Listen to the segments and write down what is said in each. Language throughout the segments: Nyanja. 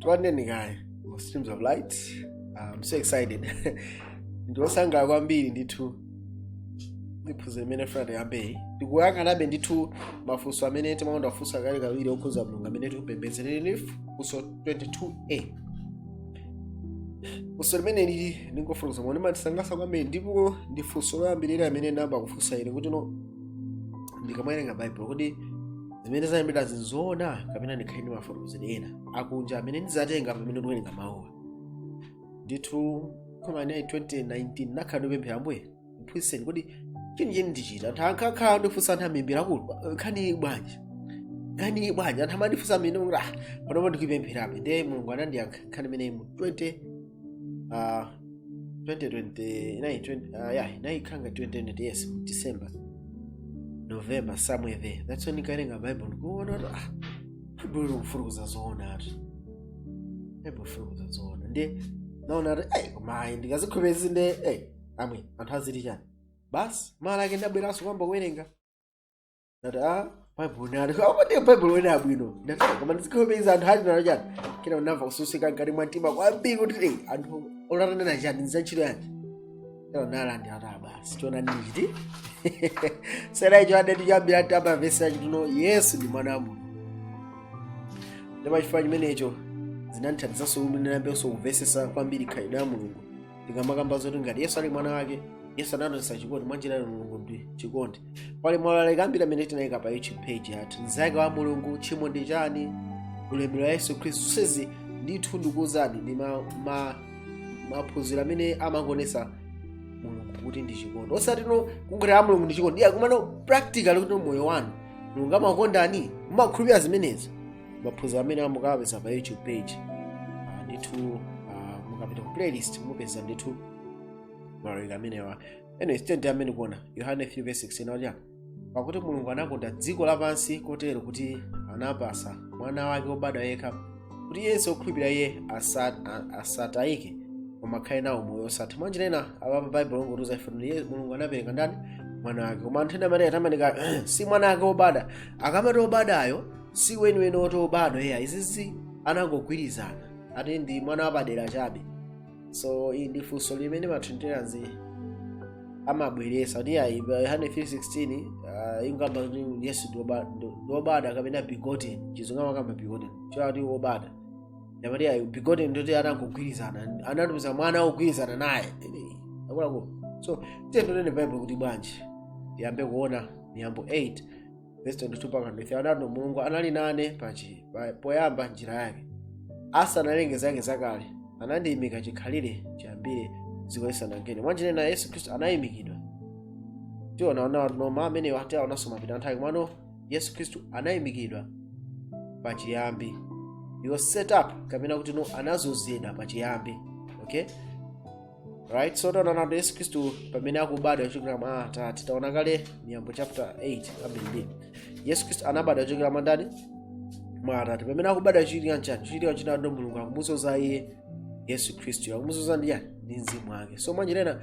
tilandireni kaye mu streams of light i'm so excited ndili wosangalala kwambiri ndithu ndi phunziro limene tifuna tiyambeli tikuyang'anabe ndithu mafunso amene amakonda kufunsa kawirikawiri okhuza mulungu amene tikupembedza funso 22a funso limene lili ndingokuuzani limandisangalatsa kwambiri ndipo ndi funso loyambirira amene ndinayamba kufunsa ine kuti no ndikamawerenga bible kuti zimene zalembedwazi nzoona kapena ndikhale ndi mafotokozedwe ena akunja amene ndizatenga pamene ndikuwerenga mawuwa ndithu koma inali 2019 ndinakhala ndikupemphera ambuye ndiphunzitseni kodi chenicheni ndi chiti anthu ankakhala akundifunsa anthu ambiri akulu nkhani bwanji nkhani bwanji anthu amandifunsa ndimanena kuti ah panopa ndikupempherabe ndiye mulungu anandiyankha nkhani imeneyi mu 20 uh, 2020 inali 20 uh, yeah inali chaka cha 2020 yes mu december november somewhere there that's when ndikawerenga bible ndikuona kuti ah bible likufotokoza zoona ati bible likufotokoza zoona ndiye ndinaona kuti ei koma ayi ndikazikhulupirira ndi ei omwe anthu aziti chani basi mawa lake ndabweranso kuyamba kuwerenga ndati a bible nali apa ndatenga bible lanena bwino ndafika koma ndikazivomereza anthu ali nalo chani kenaka ndinamva kutsutsika mkati mwa mtima kwambiri kuti "Ei, anthu oro atanena chani nzantchito yanji kenaka ndinalandira kuti ah basi choonadi ndichitsatira icho ndiye ndinayambira kumvetsetsa kuti no yesu ndi mwana wa mulungu ndipo chifukwa chimenecho zinandithandizanso kuti ndinayambenso kumvetsetsa kwambiri khalidwe la mulungu tikamakamba zoti ngati yesu ali mwana wake yesu anationetsa chikondi mwanjira ina mulungu ndi chikondi pali maulaliki ambiri amene tinayika pa youtube page yathu mzake wa mulungu tchimo ndi chani ulemerero wa yesu khristu zonsezi ndithu ndikuwuzani ndi ma- ma- maphunziro amene amangoonetsa mulungu kuti ndi chikondi osati no kungoti a mulungu ndi chikondi ayi komano practical kuti moyo wanu mulungu amakondani mumakhulupirira zimenezi maphunziro amene mukawapeza pa youtube page Ah, ndithu ah, mukapita ku playlist mupeza ndithu maulaliki amenewa anyway tiyeni tiyambe ndi kuona yohane 3 verse 16 aja pakuti mulungu anakonda dziko lapansi kotero kuti anapatsa mwana wake wobadwa yekha kuti yense okhulupirira iye asa- a- asatayike koma akhale nawo moyo osatha mwanjira ina apa bible likungotiuza ife kuti Ye- mulungu anapereka ndani mwana wake koma anthu ena amanena kuti amenewa si mwana wake wobadwa akamati wobadwayo si weniweni oti obadwa ayi izizi anangogwirizana ati ndi mwana wapadera chabe so ili ndi funso limene matrinitarians amabweretsa kuti ayi pa yohane 316 uh, ikamakamba kuti yesu ndi oba- ndi- ndi obadwa kapena begotten chizungu amakamba begotten ndiye kuti obadwa ndiye amati ayi begotten ndoti anangogwirizana anatumiza mwana wogwirizana naye akuluakulu so tione tione bible likuti bwanji tiyambe kuona miyambo 8 verse 22 mpaka 23 anati mulungu anali nane pachi pa- poyamba njira yake asanalenge zake zakale anandiyimika chikhalire chiyambire dziko lisanalengedwe mwanjira ina yesu khristu anayimikidwa tiona ona no mawu amenewa tiwaonanso mapita anthawi komano yesu khristu anayimikidwa pachiyambi he was set up kapena kuti no anazozedwa pachiyambi okay right so taona nato yesu khristu pamene akubadwa kuchokera mwa atate taona kale miyambo chapter 8 abindini yesu khristu anabadwa kuchokera mwa ndani mwa atate pamene akubadwa chichitika nchani chichitika china ndo mulungu akumuzoza iye yesu khristu akumuzoza ndi yani ndi mzimu wake so mwanjira ina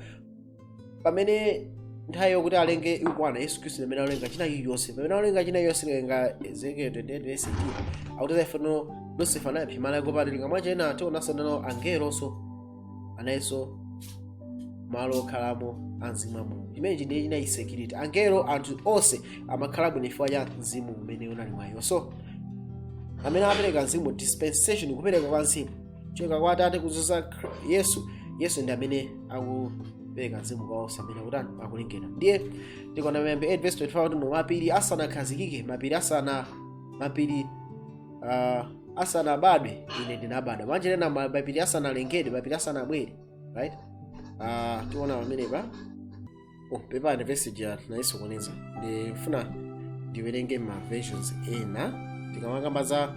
pamene nthawi yokuti alenge ikwana yesu khristu pamene alenga china chilichonse pamene alenga china chilichonse lenga ezekiel 28 18 akuti zaifano lucifer anaipsa malo ake opatulika mwanjira ina tionanso nano angelonso analinso malo okhalamo a mzimu wa mulungu chimenechi ndiye chinali security angelo anthu onse amakhala bwino chifukwa cha mzimu umene unali mwa iwo so amene apereka mzimu dispensation kupereka kwa mzimu choka kwa atate kuzoza Khri- yesu yesu ndi amene akupereka mzimu kwa onse amene akutani akulengedwa ndiye tikaona miyambi 8 verse 25 kuti mapiri asanakhazikike mapiri asana mapiri uh, asanabadwe ine ndinabadwa mwanjira ina ma- mapiri asanalengedwe mapiri asanabwere right uh, tiona pamenepa oh, pepani vesi ija nayisokoneza ndifuna ndiwerenge ma versions ena tikamakamba za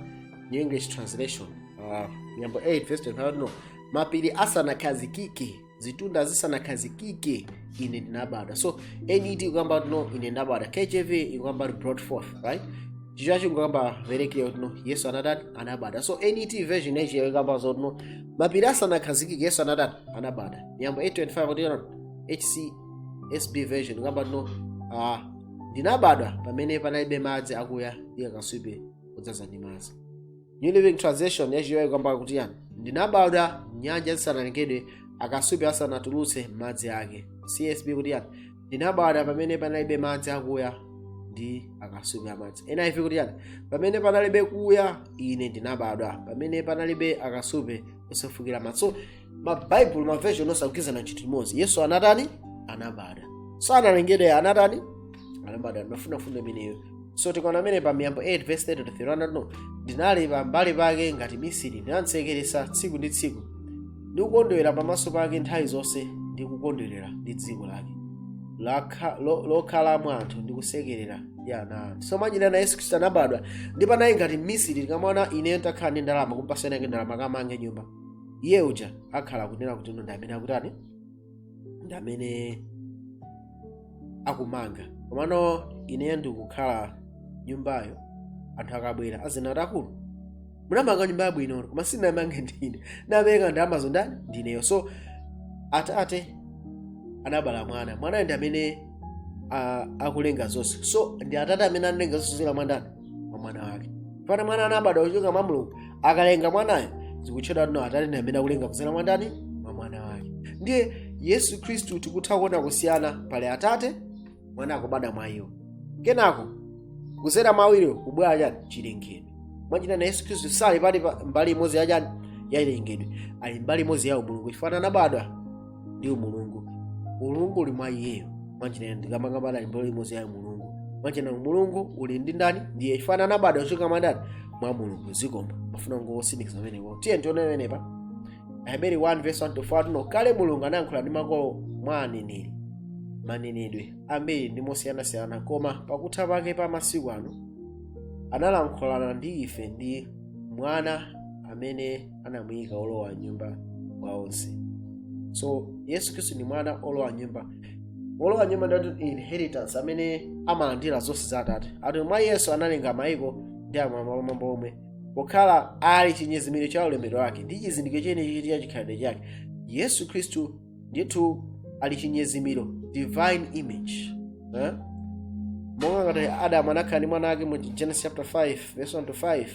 new english translation uh, miyambo 8 verse 25 no mapiri asanakhazikike zitunda zisanakhazikike ine ndinabadwa so net ikukamba kuti no ine ndabadwa kjv ikukamba kuti brought forth right chichewacho ikukamba very clear kuti no yesu anatani anabadwa so net version yachi ikukamba zoti no mapiri asanakhazikike yesu anatani anabadwa miyambo 825 kuti no hcsb version ikukamba kuti no ah, ndinabadwa pamene panalibe madzi akuya ndi akasupe odzaza ndi madzi new living translation yachiwayi ikukamba kuti yani ndinabadwa nyanja zisanalengedwe akasupe asanatulutse madzi ake csb kuti yani ndinabadwa pamene panalibe madzi akuya ndi akasupe amadzi niv kuti yani pamene panalibe kuya ine ndinabadwa pamene panalibe akasupe osefukira madzi so mabaibulo maversion onse akugwirizana chinthu chimodzi yesu anatani anabadwa sanalengedwe anatani anabadwa ndimafuna mfundo imeneyo so tikaona amene pa miyambo 8 verse 30 to 31 no ndinali pa mbali pake ngati mmisiri ndinamsekeretsa tsiku ndi tsiku ndikukondwera pamaso pake nthawi zonse ndikukondwerera ndi dziko lake lakha- lo- lokhalamo anthu ndikusekerera ndi ana a anthu so mwanjira ina yesu khristu anabadwa ndipo anali ngati mmisiri tikaona ineyo nditakhala ndi ndalama kumpatsa winawake ndalama kamange nyumba iye uja akhala akunena kuti ine ndi amene akutani ndi amene akumanga komano ineyo ndikukhala nyumbayo anthu akabwera azinena kuti akulu munamanga nyumba yabwino koma sinamange ndine napereka ndalamazo ndani ndineyo so atate anabala mwana mwanayo ndi amene a- akulenga zonse so ndi atate amene analenga zonse kudzera mwa ndani mwa mwana wake pamene mwana anabadwa kuchoka mwa mulungu akalenga mwanayo zikutchedwa kuti atate ndi amene akulenga kudzera mwa ndani mwa mwana wake ndiye yesu khristu tikutha kuona kusiyana pali atate mwana akubadwa mwa iwo kenako kudzera mwa awiriwo kubwera chani chilengedwe mwanjira ina yesu khristu sali pali pa- mbali imodzi ya chani ya chilengedwe ali mbali imodzi ya umulungu chifukwa anabadwa ndi umulungu umulungu uli mwa iyeyo mwanjira ina ndikamakamba ali mbali imodzi ya umulungu mwanjira ina umulungu uli ndi ndani ndiye chifukwa anabadwa kuchoka mwa ndani mwa mulungu zikomo mafuna ndingotsindikiza pamenepo tiyeni tione pamenepa aheberi 1 verse 1 to 4 tuno kale mulungu analankhula ndi makolo mwa aneneri mmanenedwe ambiri ndi mosiyanasiyana koma pakutha pake pa masiku ano analankhulana ndi ife ndi mwana amene anamuyika olowa nyumba wa zonse so yesu khristu ndi mwana olowa nyumba olowa nyumba ndi inheritance amene amalandira zonse za atate ati mwa iyenso analenga mayiko ndi ammwamba omwe pokhala ali chinyezimiro cha ulemerero wake ndi chizindikiro chenicheni cha chikhalidwe chake yesu khristu ndithu ali chinyezimiro divine image eh? monga ngati adamu anakhala ndi mwana wake mu genesis chapter 5 verse 1 to 5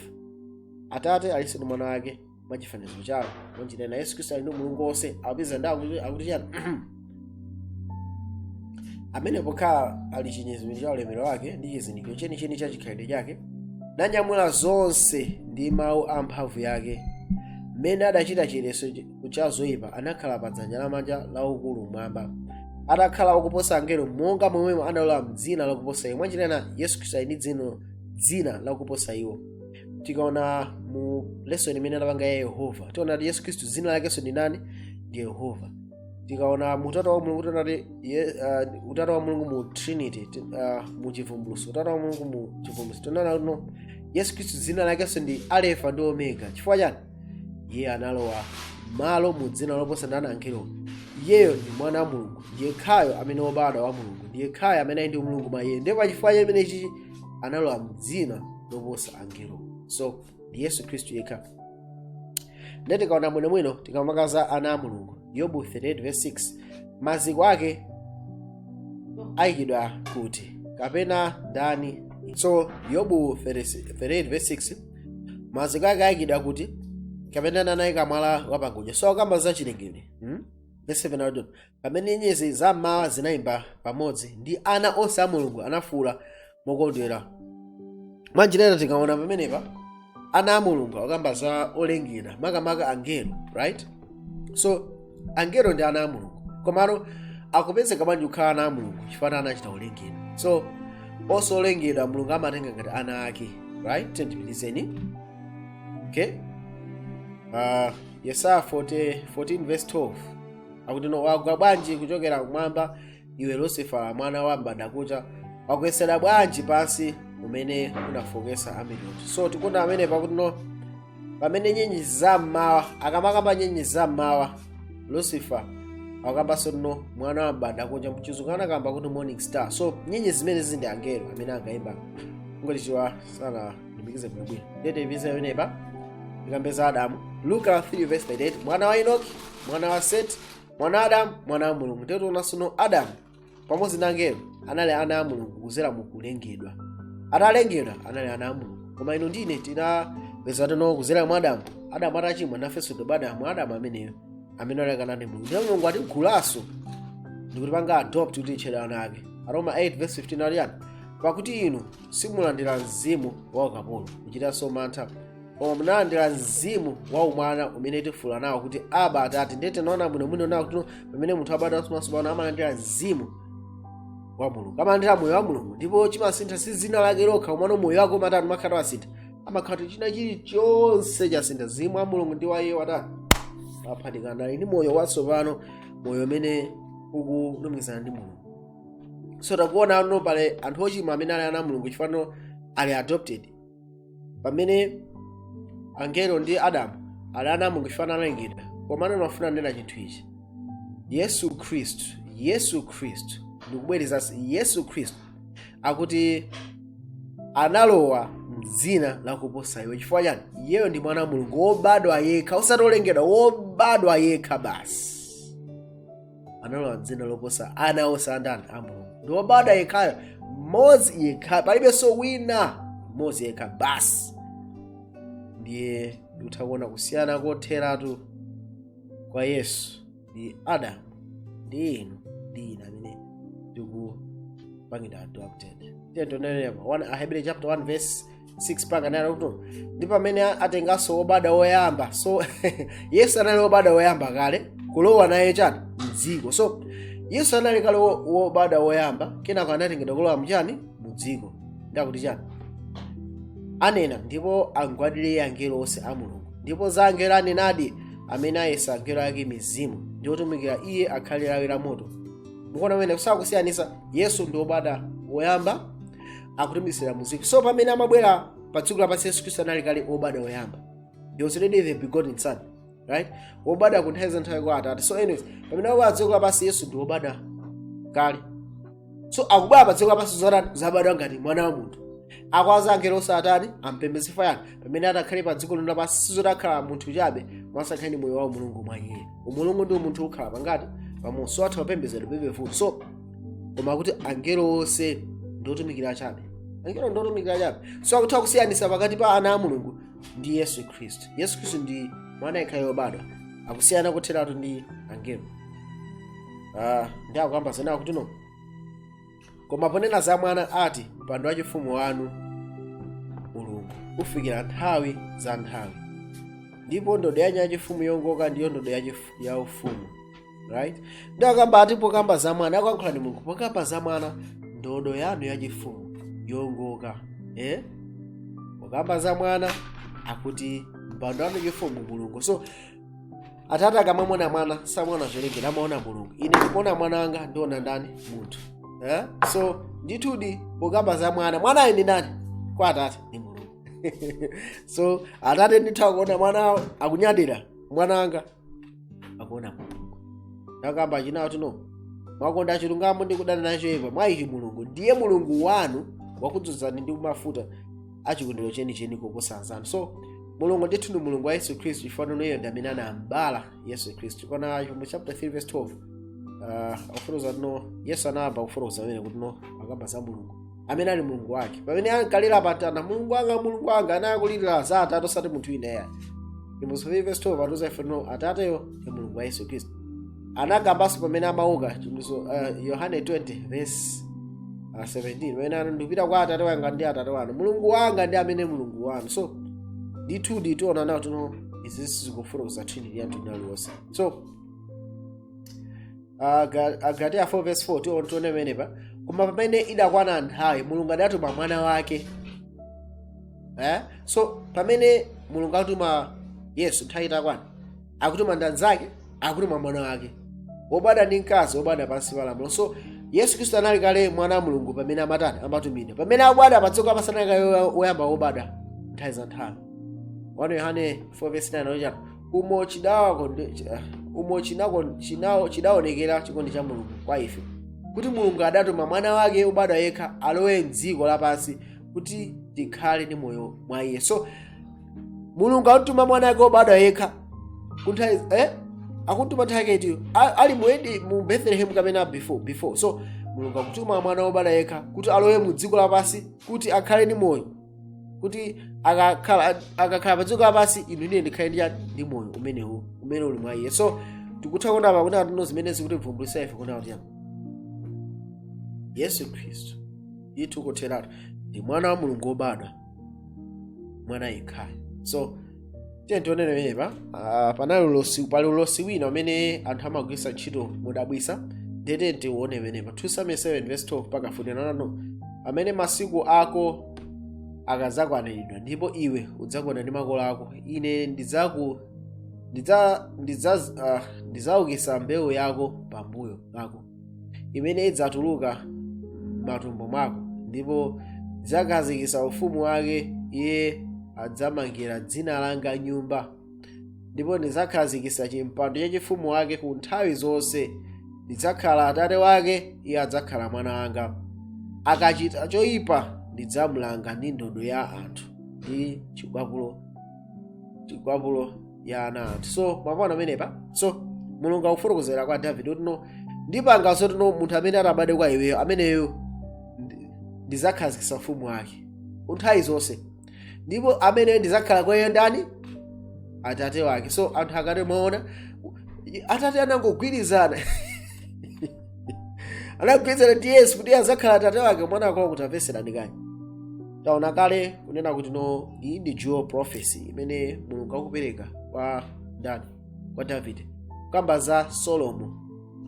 atate alinso ndi mwana wake mwa chifanizo chawo mwanjira ina yesu khristu ali ndi umulungu wonse akupeza ndi akuti akuti chani amene pokhala ali chinyezimiro cha ulemero wake ndi chizindikiro chenicheni cha chikhalidwe chake nanyamula zonse ndi mawu a mphamvu yake mmene adachita chiyeretso cha zoyipa anakhala pa dzanja lamanja la ukulu mmwamba atakhala wakuposa angelo monga momwe analowa mdzina lakuposa iwo mwanjira ina yesu khristu ali ndi dzino dzina lakuposa iwo tikaona mu lesson imene tinapanga ya yehova tiona kuti yesu khristu dzina lakenso ndi ndani ndi yehova tikaona mu utatu wa mulungu tiona kuti ye- ah, utatu wa mulungu mu trinity ti- ah, mu chivumbulutso utatu wa mulungu mu chivumbulutso tiona kuti yesu khristu dzina lakenso ndi alefa ndi omega chifukwa chani iye analowa malo mu dzina loposa ndani angelo iyeyo ndi mwana wa mulungu ndi yekhayo amene wobadwa wa mulungu ndi yekhayo amene ali ndi umulungu mwa iye ndipo pachifukwa chimenechi analowa mdzina loposa angelo so ndi yesu khristu yekha ndiye tikaona bwinobwino tikamakamba za ana a mulungu yobu 38 verse 6 maziko ake ayikidwa kuti kapena ndani so yobu 38 verse 6 maziko ake ayikidwa kuti kapena ndani anayika mwala wapangodya so akamba za chilengedwe hmm? verse 7 akuti no pamene nyenyezi za mmawa zinayimba pamodzi ndi ana onse a mulungu anafuula mokondwera mwa njira ina tikaona pamenepa ana a mulungu akukamba za olengedwa makamaka angelo right so angelo ndi ana a mulungu komano akupezeka bwanji kukhala ana a mulungu chifukwa anachita kulengedwa so onse olengedwa mulungu amatenga ngati ana ake right tiyeni tipitirizeni okay uh, yesaya 40, 14 verse 12 akuti no wagwa bwanji kuchokera kumwamba iwe lusifala mwana wa mbandakucha wagwetsedwa bwanji pansi umene unafooketsa amitundu so tikuona pamenepa akuti no pamene nyenyezi za mmawa akamakamba nyenyezi za mmawa lucifer akukambanso kuti no mwana wa mbandakucha mchizungu anakamba kuti morning star so nyenyezi zimenezi ndi angelo amene angaimba ngoti chiwa sana nditsimikize bwinobwino ndiye tipite yonepa tikambe za adamu luka 3 verse 38 mwana wa enoki mwana wa seti mwana wa adamu mwana wa mulungu ndiye tiona tsono adamu pamodzi na angelo anali ana a mulungu kudzera mu kulengedwa atalengedwa anali ana a mulungu koma inu ndi ine tinapeza kuti no kudzera mwa adamu adamu atachimwa nafenso tobadwa mwa adamu ameneyo amene analekana ndi mulungu ndipo mulungu anatigulanso ndikutipanga adopt kuti titchedwe ana ake aroma 8 verse 15 aliyani pakuti inu simunalandira mzimu wa ukapolo kuchitanso mantha koma munalandira mzimu wa umwana umene tifuula nawo kuti aba atate ndiye tikaona bwinobwino tiona kuti pamene munthu abadwa mwatsopano amalandira mzimu wa mulungu amalandira moyo wa mulungu ndipo chimasintha si dzina lake lokha komano moyo wake umatani umakhala wasintha amakhala kuti china chilichonse chasintha mzimu wa mulungu ndi wa iye watani waphatikana ali ndi moyo watsopano moyo umene ukulumikizana ndi mulungu so tikuona pano pali anthu ochimwa amene ali ana a mulungu chifukwa ali adopted pamene angelo ndi adamu ali ana a mulungu chifukwa analengedwa komano ndimafuna ndinene chinthu ichi yesu khristu yesu khristu ndikubwerezanso yesu khristu akuti analowa mdzina lakuposa iwo chifukwa chani iyeyo ndi mwana wa mulungu wobadwa yekha osati olengedwa wobadwa yekha basi analowa dzina loposa ana onse a ndani a mulungu ndi wobadwa yekhayo mmodzi yekha palibenso wina mmodzi yekha basi ndiye ndikutha kuona kusiyana kotheratu kwa yesu ndi adamu ndi inu ndi ine amene tikupangidwa adopted tiye tionenso pa ahebere chapter 1 verse 6 pakunena kuti ndi pamene atenganso obada woyamba so yesu anali obada woyamba kale kulowa naye mchani mdziko so yesu anali kale wo- wobada woyamba kenako anatengedwa kulowa mchani mudziko ndi akuti chani anena ndipo amgwadire iye angelo onse a mulungu ndipo za angelo anenadi amene ayesa angelo ake mizimu ndi otumikira iye akhale lawi la moto mukuona mmene akusiyanisa yesu ndi obada woyamba akutumizidwa mu dziko so pamene amabwera pa dziko lapansi yesu khristu anali kale obadwa oyamba he was already the begotten son right obadwa ku nthawi za nthawi kwa atate so anyways pamene akubwera pa dziko lapansi yesu ndi obadwa kale so akubwera pa dziko lapansi kuzatani kuzabadwa ngati mwana wa munthu akuwauza angelo onse atani ampembeze chifukwa chani pamene atakhale pa dziko lino lapansi sizoti akhala munthu chabe mwazakhala moyo wa umulungu mwa iye umulungu ndi umunthu ukhala pangati pamodzi so atha kupembezedwa pepefupi so koma kuti angelo onse ndiotumikira chabe angelo ndiotumikira chabe so akutha kusiyanisa pakati pa ana a mulungu ndi yesu khristu yesu khristu ndi mwana yekhayo wobadwa akusiyana kotheratu ndi angelo Ah, ndi akukamba zina kuti no koma ponena za mwana ati mpando wachifumu wanu mulungu ufikira nthawi za nthawi ndipo ndodo yanu yachifumu yongoka ndiyo ndodo yachifu- ya ufumu right ndi akamba ati pokamba za mwana akuyankhula ndi mulungu pokamba za mwana ndodo yanu yachifumu yongoka eh? pokamba za mwana akuti mpando wanu wachifumu mulungu so atate akamamuona mwana samaona cholengedwa amaona mulungu ine ndikaona mwana wanga ndiona ndani munthu eh? so ndithudi pokamba za mwana mwanayo ndi ndani kwa atate ndi mulungu so atate ndithu akuona mwana wawo akunyadira mwana wanga akuona mulungu ndi akamba chani kuti no mwakonda chilungamo ndi kudana nacho choipa mwa ichi mulungu ndiye mulungu wanu wakudzozani ndi mafuta achikondero chenicheni koposa anzanu so mulungu ndithu ndi mulungu wa yesu khristu chifukwa iyeyo ndi amene anam'bala yesu khristu ukaona mu chapter 3 verse 12 uh, akufotokoza kuti no yesu anayamba kufotokoza mwene kuti no akamba za mulungu amene ali mulungu wake pamene ankalira pamtanda mulungu wanga mulungu wanga ankalirira kwa atate osati munthu wina ayi ndi mu 3 verse 12 patiuza ife no atateyo ndi mulungu wa yesu khristu anakambanso pamene amauka chimbuso uh, yohane 20 verse uh, 17 pamene ano ndikupita kwa atate wanga ndi atate wanu mulungu wanga ndi amene mulungu wanu so ndithudi tiona nawo kuti no izi sizikufotokoza trinity ya mtundu uliwonse so Aga- agalatiya 4 verse 4 tiwo- tione pamene pa koma pamene idakwana nthawi mulungu adatuma mwana wake eh? so pamene mulungu akutuma yesu nthawi itakwana akutuma ndanzake akutuma mwana wake wobadwa ndi mkazi wobadwa pansi pa lamulo so yesu khristu anali kale mwana wa mulungu pamene amatani amatumidwa pamene akubadwa padziko lapansi anali kale woyamba wobadwa nthawi za nthawi 1 yohane 4 verse 9 anachepa umo chidaonekera chikondi cha mulungu kwa ife kuti mulungu adatuma mwana wake wobadwa yekha alowe mdziko lapansi kuti tikhale ndi moyo mwa iye so mulungu akutuma mwana wake wobadwa yekha kunthawi eh? akumutuma nthawi yake itiyo ali muedi mu bethlehem kapena before before so mulungu akutuma mwana wobadwa yekha kuti alowe mu dziko lapansi kuti akhale ndi moyo kuti akakhala akakhala pa dziko lapansi inu ndi ine tikhale ndi chani? ndi moyo umenewo umene uli mwa iye so tikutha kuona apa kunena kuti no zimene zikutivumbulisa ife kunena kuti yesu khristu ndithu kotheratu ndi mwana wa mulungu wobadwa mwana yekhayo so tiyeni tione pamenepa ah, panali ulosi pali ulosi wina umene anthu amagwiritsa ntchito modabwitsa ndiye tiyeni tione pamenepa 2 samuel 7 verse 12 mpaka 14 pamene masiku ako akadzakwaniridwa ndipo iwe udzagona ndi makolo ako ine ndidzaku ndidza ndidza ah, ndidzaukitsa mbewu yako pambuyo pako imene idzatuluka m'matumbo mwako ndipo ndidzakhazikitsa ufumu wake iye adzamangira dzina langa nyumba ndipo ndidzakhazikitsa chimpando cha ufumu wake ku nthawi zonse ndidzakhala atate wake iye adzakhala mwana wanga akachita choyipa ndidzamulanga ndi ndodo ya anthu ndi chikwapulo mikwapulo ya ana a anthu so mwaona pamenepa so mulungu akufotokozera kwa davide kuti no ndipanga zoti no munthu amene atabadwe kwa iweyo ameneyo ndi- ndidzakhazikitsa ufumu wake ku nthawi zonse ndipo ameneyo ndidzakhala kwa iye ndani atate wake so anthu akati mwaona atate anangogwirizana anagwirizana ndi yesu kuti azakhala atate wake mwana akula kuti aveserani kani taona kale kunena kuti no iyi ndi dual prophecy imene mulungu akupereka kwa ndani kwa davide kukamba za solomo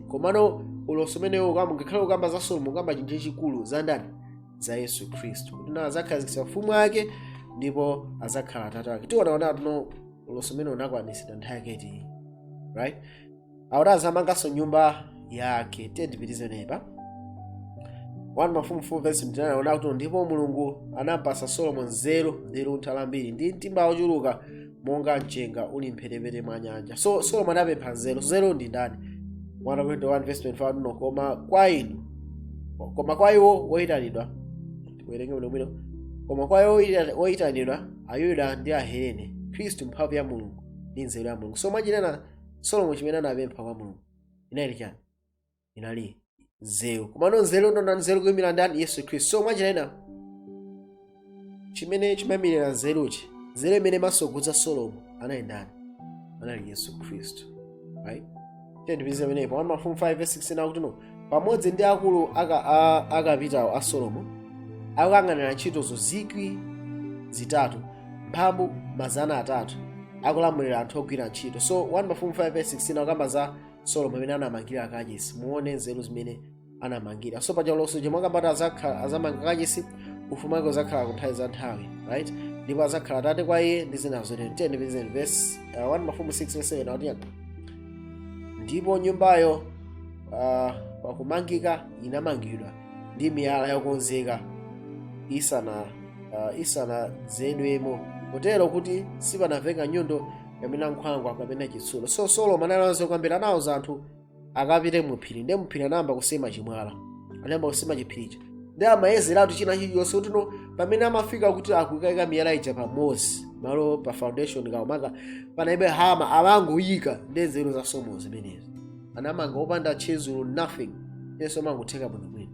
komano ulosi umenewo ukamba ngakhale ukamba za solomo ukamba chinthu chachikulu za ndani za yesu khristu kuti nawo adzakhazikitsa ufumu wake ndipo adzakhala atate wake tione kuti no ulosi umene unakwanitsidwa nthawi yake itiyi right akuti azamanganso nyumba yake tiyeni tipitirize apa 1 mafumu 4 verse 29 akuti akuti ndipo mulungu anampasa solomo nzeru ndi luntha lambiri ndi mtima wochuluka monga mchenga uli mphepete mwa nyanja so solomo anapempha nzeru nzeru ndi ndani 1 verse 25 akuti, ano, koma kwa inu koma kwa iwo woyitanidwa tiwerenge bwinobwino koma kwa iwo woyita- woyitanidwa ayuda ndi ahelene khristu mphamvu ya mulungu ndi nzeru ya mulungu so mwa njira ina solomo chimene anapempha kwa mulungu inali chani inali nzeru komano nzeru ndi ndani nzeru kuyimira ndani yesu khristu so mwanjira ina chimene chimayimirira nzeruchi nzeru imene imatsogolera solomo anali ndani anali yesu khristu right tiyeni tipitirize pamenepo 1 mafumu 5 verse 16 akuti ano pamodzi ndi akulu aka, a, akapitawo a solomo akuyang'anira ntchitozo zikwi zitatu mphambu mazana atatu akulamulira anthu ogwira ntchito so 1 mafumu 5 verse 16 akukamba za solomo amene anamangira kachisi muone nzeru zimene anamangira so paja ulosi chomwe ukukamba ati azakhala- azamanga kachisi ufumu wake uzakhala ku nthawi za nthawi right ndipo azakhala tate kwa iye ndi zina zotero 6 verse 7 akuti ndipo nyumbayo uh, pakumangika inamangidwa ndi miyala yokonzeka isana uh, isanadze nayo mo kotero kuti sipanamveka nyundo kapena nkhwangwa kapena chitsulo so solomo analinso kwambiri anawuza anthu akapite muphiri ndi muphiri anayamba kusema chimwala anayamba kusema chiphiricho ndi amayezeratu china chilichonse kuti pamene amafika kuti akukaika miyala ija pamodzi malo pa foundation kukaumanga panalibe hama amangoyika ndiye nzeru za solomo zimenezi anamanga opanda tchizulo nothing zonse zimangotheka bwinobwino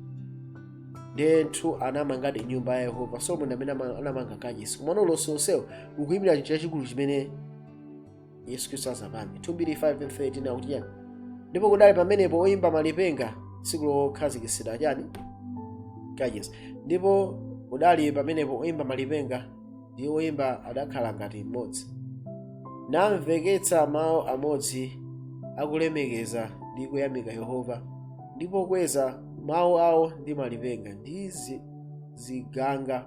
ndiye anthu anamangadi nyumba ya yehova solomo ndi amene ama- anamanga kachisi komano ulosi onsewo ukuyimira chinthu chachikulu chimene yesu khristu azapange 2 mbiri 5 and 13 akuti chani ndipo kudali pamenepo oyimba malipenga tsiku lokhazikitsidwa chani kachisi ndipo kudali pamenepo oyimba malipenga ndi oyimba adakhala ngati mmodzi namveketsa mawu amodzi akulemekeza ndi kuyamika yehova ndi pokweza mawu awo ndi malipenga ndi zi- ziganga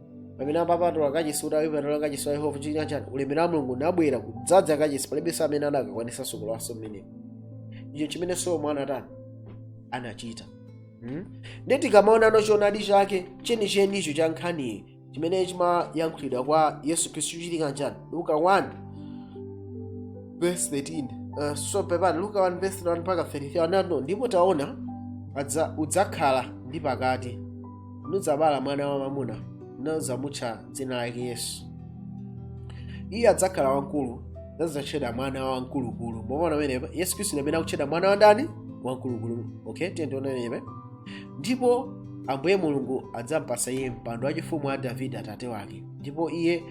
pamene akapatula kachisi kuti akapatula kachisi wa yehova chinachitika n'chani ulemerero wa mulungu unabwera kudzadza kachisi palibenso amene anakakwanisa kulowanso mmenemo ichi n'chimene solomo anatani anachita Hmm? ndiye tikamaona choonadi chake chenichenicho cha nkhaniyi chimene chimayankhulidwa kwa yesu khristu chinachitika n'chani luka 1 verse 13 uh, so pepani luka 1 verse 31 mpaka 33 ona ano ndipo taona adza- udzakhala ndi pakati nudzabala mwana wamwamuna nudzamutcha dzina lake yesu iye adzakhala wamkulu adzatchedwa mwana wamkulukulu mwaona pamenepa yesu khristu ndi amene akutchedwa mwana wa ndani wamkulukulu okay tiye tione pamenepa ndipo ambuye mulungu adzampasa iye mpando wachifumu wa davide atate wake ndipo iye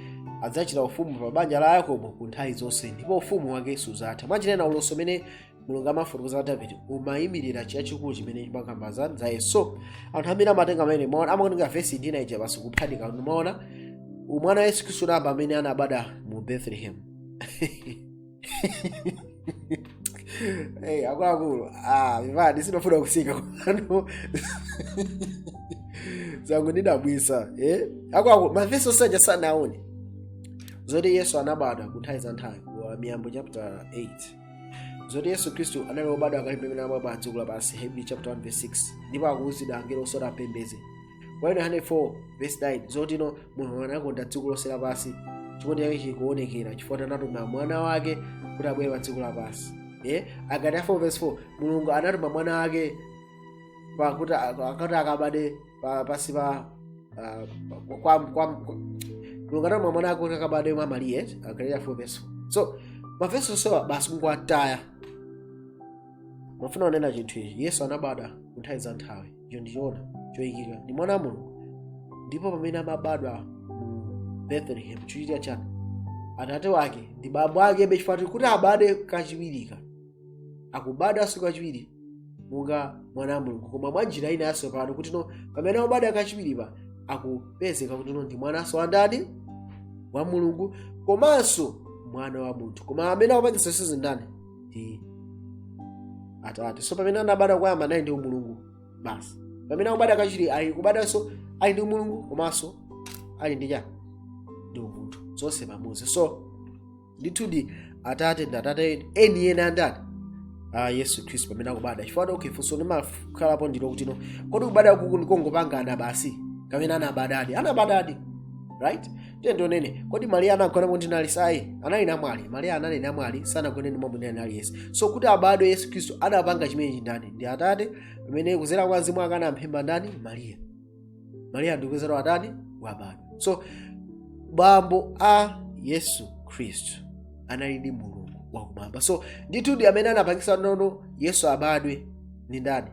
adzachita ufumu pa banja la yakobo ku nthawi zonse ndipo ufumu wake suzatha mwachionena ulosi umene mulungu amafotokoza za davide umayimirira chachikulu chimene chimakamba za za yesu so anthu amene amatenga amene mwaona amatenga vesi ina ija basi kuphatikiza mwaona umwana wa yesu khristu namba amene anabadwa mu bethlehem hey, akuluakulu ah, vivadi sinofuna kusika kwanu zangu ndidabwisa eh? akuluakulu mavesi osanja sanaone zoti yesu anabadwa kunthawi za nthawi wa miyambo chapter 8 zoti yesu khristu anali wobadwa kale pamene amabadwa pa dziko lapansi hebrew chapter 1 verse 6 ndipo akuwuzidwa angelo onse ati ampembeze kwa yohane 4 verse 9 zotino mulungu anakonda dziko lonse lapansi chikondi chake chikuonekera chifukwa anatuma mwana wake kuti abwere pa dziko lapansi eh agalatia 4 verse 4 mulungu anatuma mwana wake pakuti akati akabade pa pasi pa ah, kwa kwa kwa- mulungu anatuma mwana wake kuti akabadwe mwa mariya agalatia 4 verse 4 so mavesi onsewa basi akungoti amafuna kunena chinthu ichi yesu anabadwa kunthawi za nthawi icho ndi choona choyikika ndi mwana wa mulungu ndipo pamene amabadwa mu bethlehem chochitika chani atate wake ndi bambo ake bechifatu kuti abade kachiwiri ka akubadwanso kachiwiri monga mwana wa mulungu koma mwa njira ina yatsopano kuti no pamene akubadwa kachiwiri pa akupezeka kuti no ndi mwananso wa ndani wa mulungu komanso mwana wa munthu koma amene akupangitsa zonsezi ndani ndi atate so pamene anabadwa koyamba anali ndi umulungu basi pamene akubadwa kachiwiri akubadwanso ali ndi umulungu komanso ali ndi chani ndi umunthu zonse pamodzi so ndithudi atate ndi atate eni eni a ndani a yesu khristu pamene akubada chifukwa kuti okay funso limakhalapo ndi lakuti no kodi kubada kuku ndi kongopangana basi kapena anabadadi anabadadi right tiye tionene kodi mariya anagona ndi munthu ayi anali namwali mariya anali namwali sanagone ndi mwamuna aliyense so kuti abadwe yesu khristu adapanga chimenechi ndani ndi atate pamene kuzera kwa mzimu ake anamphimba ndani mariya mariya ndikupezeka watani wabadwa so bambo a yesu khristu analidi mulungu wakumwamba so ndithudi amene anapangisa nono yesu abadwe ndi ndani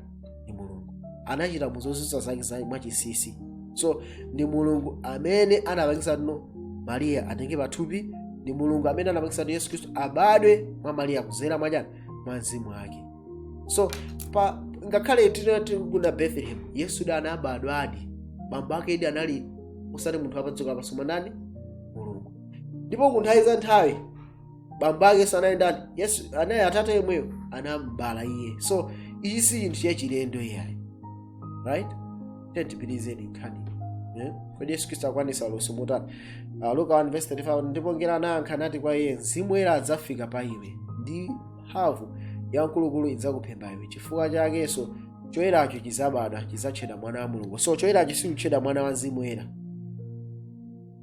ndi mulungu anachita muzozizwa zake za mwachisisi so ndi mulungu amene anapangisa nono mariya atenge pathupi ndi mulungu amene anapangisa nono yesu khristu abadwe mwa mariya kuzera mwachani mwa mzimu wake so pa ngakhale tinati ku bethlehem yesu da anabadwadi bambo ake idi anali osati munthu wapadziko lapansi koma ndani mulungu ndipo ku nthawi za nthawi bambo ake yesu anali ndani yesu anali atate yemweyo anambala iye so ichi si chinthu chachilendo iyayi right tiyeni tipitilize nkhani eh? kodi yesu khristu akwanisa ulosi motani uh, luka 1 verse 35 ndipo ngelo anayankha nati kwa iye mzimu woyera adzafika pa iwe ndi mphamvu ya mkulukulu idzakuphimba iwe chifukwa chakenso choyeracho chizabadwa chizatchedwa mwana wa mulungu so choyeracho sichikutchedwa mwana wa mzimu woyera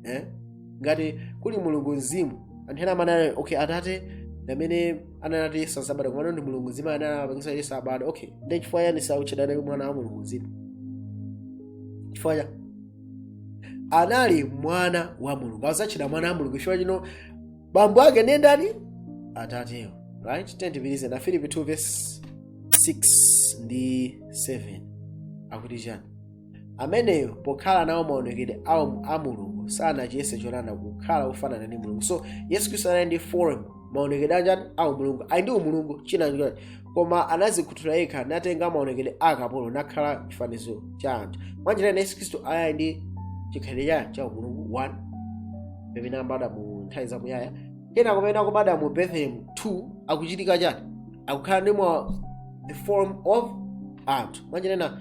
eh? ngati kuli mulungu mzimu anthu ena amanena okay atate ndamene ananati yesu azabadwa komano ndi mulungu mzimu amene anapangisa yesu abadwa okay nde chifukwa chani sautchedwa naye mwana wa mulungu mzimu chifukwa cha anali mwana wa mulungu azatchedwa mwana wa mulungu chifukwa chani bambo ake ndiye ndani atatewo right tiyeni tipitirize afilipi 2 verse 6 ndi 7 akuti chani ameneyo pokhala nawo maonekedwe a mulungu sanachiyese cholanda kukhala wofanana ndi mulungu so yesu khristu anali ndi form maonekedwe anjani a umulungu anali ndi umulungu china chani koma anazikhuthula yekha natenga maonekedwe a kapolo nakhala chifanizo cha anthu mwanjira ina yesu khristu anali ndi chikhalidwe cha cha umulungu 1 pamene amabadwa mu nthawi zamuyaya kenako mmene akubadwa mu bethlehem 2 akuchitika chani akukhala ndi mwa the form of anthu mwanjira ina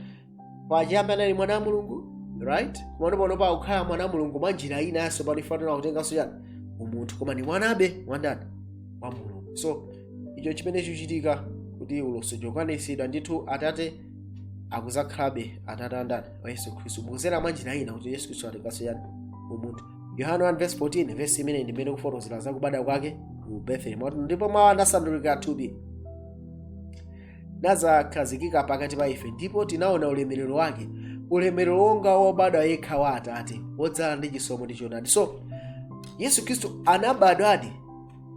pachiyambi anali mwana wa mulungu right mwana pano pakukhala mwana wa mulungu mwa njira inanso pano afuna kutenganso chani umunthu koma ndi mwanabe wandani wa mulungu so ndicho chimene chikuchitika kuti ulosi ukukwanitsidwa ndithu atate akuzakhalabe atate andani wa yesu khristu kudzera mwa njira ina kuti yesu khristu atenganso chani umunthu yohane 1 verse 14 verse imene ndi imene ikufotokozera za kubadwa kwake ku bethlehem ndipo mawu anasandulika thupi nakhazikika pakati pa ife ndipo tinaona ulemerero wake ulemerero wonga wobadwa yekha wa atate wodzala ndi chisomo ndi choonadi so yesu khristu anabadwadi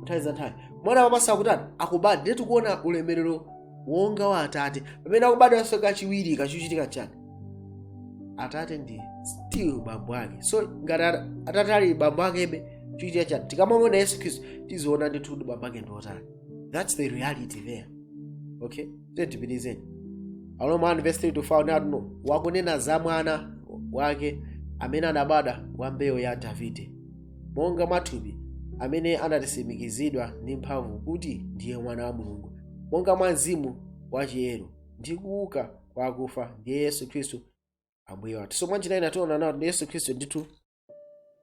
nthawi za nthawi mwana wamasa akutani akubadwa ndiye tikuona ulemerero wonga wa atate pamene akubadwanso kachiwiri chikuchitika chani atate ndi still bambo ake so ngati ata- atate ali bambo akebe chichitika chani tikamamona yesu khristu tiziona ndithu kuti bambo ake ndi otani that's the reality there okay tiyeni tipitilize aroma 1 verse 3 to 5 ndithu wakunena za mwana wake amene anabadwa wa mbewu ya davide monga mwathupi amene anatisimikizidwa ndi mphamvu kuti ndiye mwana wa mulungu monga mwa mzimu wachiyero ndi kuuka kwa akufa ndiye yesu khristu ambuye wathu so mwanjira ina tiona nawo ndi yesu khristu ndithu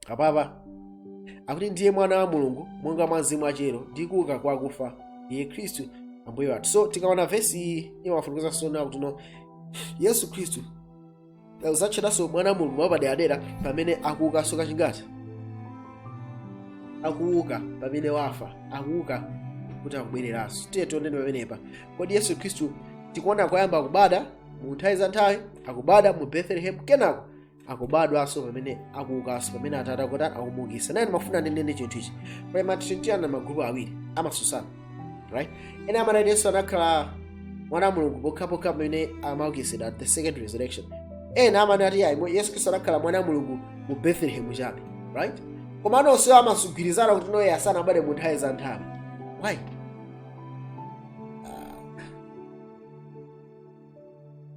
apapa akuti ndiye mwana wa mulungu monga mwa mzimu wa chiyero ndi kuuka kwa akufa iye khristu ambuye wathu so tikaona vesi iyi imafotokoza sona kuti no yesu khristu azatchedwanso mwana wa mulungu wapaderadera pamene akuukanso kachingati akuuka pamene wafa akuuka kuti akubwereranso tiye tioneni pamenepa kodi yesu khristu tikuona koyamba akubada mu nthawi za nthawi akubada mu bethlehem kenako akubadwanso pamene akuukanso pamene atate akuti akumuukisa nane ndimafuna ndinene chinthu ichi pali matrinitarian magrupu awiri amasusana right ena amanena kuti yesu anakhala mwana wa mulungu pokhapokha pamene amaukitsidwa at the second resurrection ena amanena kuti ayi mwe- yesu khristu anakhala mwana wa mulungu mu bethlehem chabe right koma anonse amazagwirizana kuti no yesu sanabadwe mu nthawi za nthawi why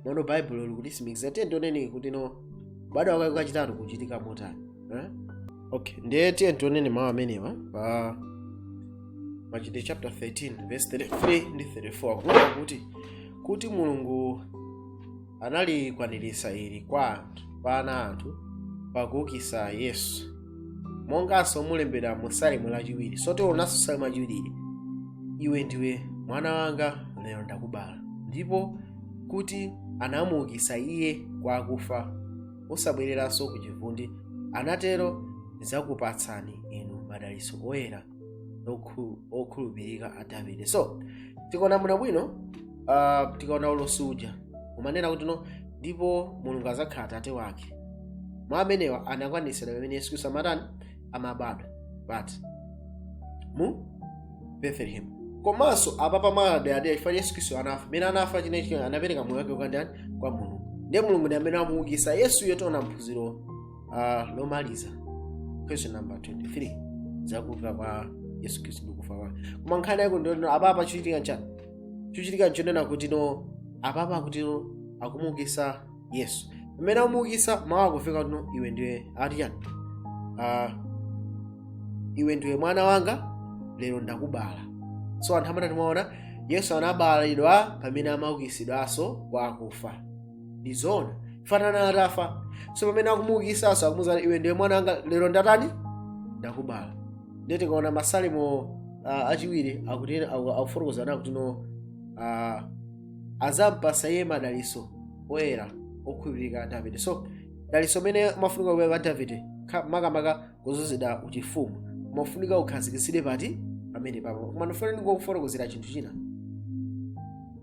nono baibulo likutitsimikiza tiye tioneni kuti no kubadwa kwake kwachitatu kukuchitika motani eh? okay ndiye tiye tioneni mawu amenewa pa machitidwe chapter 13 verse 33 ndi 34 kunena kuti kuti mulungu analikwaniritsa ili kwa anthu kwa ana athu pakuukitsa yesu monganso mulembedwa mu salimo lachiwiri so tionanso salimo lachiwiri iwe ndiwe mwana wanga lero ndakubala ndipo kuti anamuukitsa iye kwa akufa osabwereranso ku chivundi anatero ndidzakupatsani inu madalitso oyera okhu- okhulupirika a davide so tikaona bwinobwino uh, tikaona ulosi uja umanena kuti no ndipo mulungu adzakhala atate wake mawu amenewa anakwanitsidwa pamene yesu kristu amatani amabadwa but mu bethlehem komanso apa pamaderadera chifukwa yesu kristu anafa mmene anafa chinachitika anapereka moyo wake ukandani kwa mulungu ndiye mulungu ndi amene amuukisa yesuyo tiona mu phunziro uh, lomaliza question number 23 zakuuka kwa yesu khristu ndi kufa kwake koma nkhani yake ndiyo apapa chochitika nchani chochitika nchonena kuti no apapa akuti no akumuukisa yesu pamene amuukisa mawu akufika kuti no iwe ndiwe ati chani uh, iwe ndiwe mwana wanga lero ndakubala so anthu amanena kuti timaona yesu anabalidwa pamene amaukisidwanso kwa akufa ndi zoona chifukwa anali atafa so pamene akumuukisaso akumuuza iwe ndiwe mwana wanga lero ndatani ndakubala ndiye tikaona masalimo uh, achiwiri akuti akufotokoza nawo kuti no uh, azampasa iye madaliso oyera okhulupirika a davide so daliso limene limafunika kupita kwa davide kha- makamaka kuzuzida uchifumu umafunika ukhazikisidwe pati pamene papo koma ndifuna ndingokufotokozera chinthu china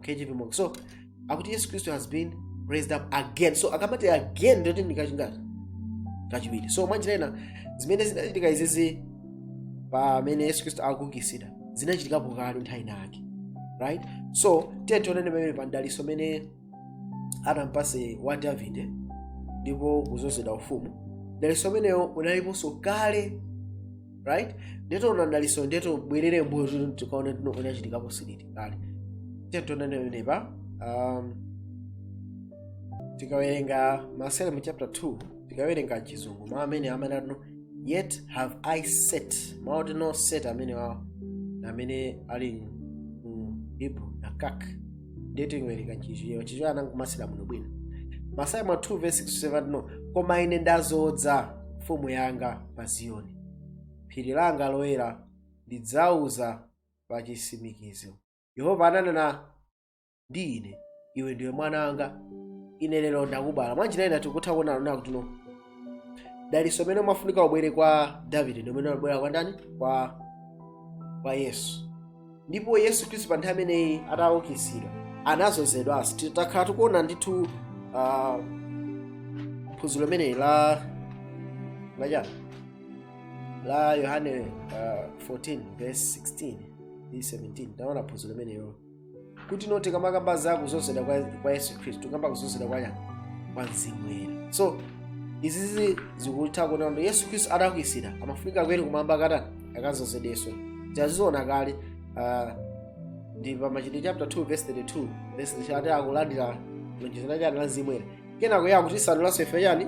KJV Moore. So akuti Yesu Kristo has been raised up again. So akamati again ndiye kuti ndi kachingati kachiwiri. So mwanjira ina zimene zinachitika izizi pamene Yesu Kristo akuukitsidwa zinachitikapo kale nthawi yake. Right? So tiye tione pamene pa mdalitso umene anampatsa Davide ndipo kudzozedwa ufumu. Mdalitso umenewo unaliponso kale right ndiye tiona dalitso ndiye tibwerere mbuyo kuti no tikaone kuti no unachitikapo liti kale tiye tione pamene pa um, tikawerenga masalimo chapter 2 tikawerenga chizungu mawu amene amanena kuti no yet have i set mawu oti no set amenewa amene ali mu hebrew nakak ndiye tiwerenga chichewa chichewa anangomasulira muno bwino masalimo 2 verse 6 to 7 no koma ine ndazodza mfumu yanga pa ziyoni phiri langa loyera ndidzauza pa chisimikizo yehova ananena ndi ine iwe ndiwe mwana wanga ine lero ndakubala mwanjira ina tikutha kuona kuti no dalitso umene umafunika ubwere kwa davide ndi umene unabwera kwa ndani kwa kwa yesu ndipo yesu khristu pa nthawi imeneyi ataukitsidwa anazozedwanso titakhala tikuona ndithu ah, phunziro limeneli la la chani la yohane ah, 14 verse 16 ndi 17 taona phunziro limenelo kuti no tikamakamba za kuzozedwa kwa, kwa yesu khristu tikamba kuzozedwa kwa chani kwa mzimu woyera so izizi zikutha kuona kuti yesu khristu ataukitsidwa amafunika kuyera kumwamba akatani akazozedwenso taziona kale ah, ndi pa machitidwe chapter 2 verse 32 verse 33 akulandira lonjezano la chani la mzimu woyera kenako akutitsanuliranso ife chani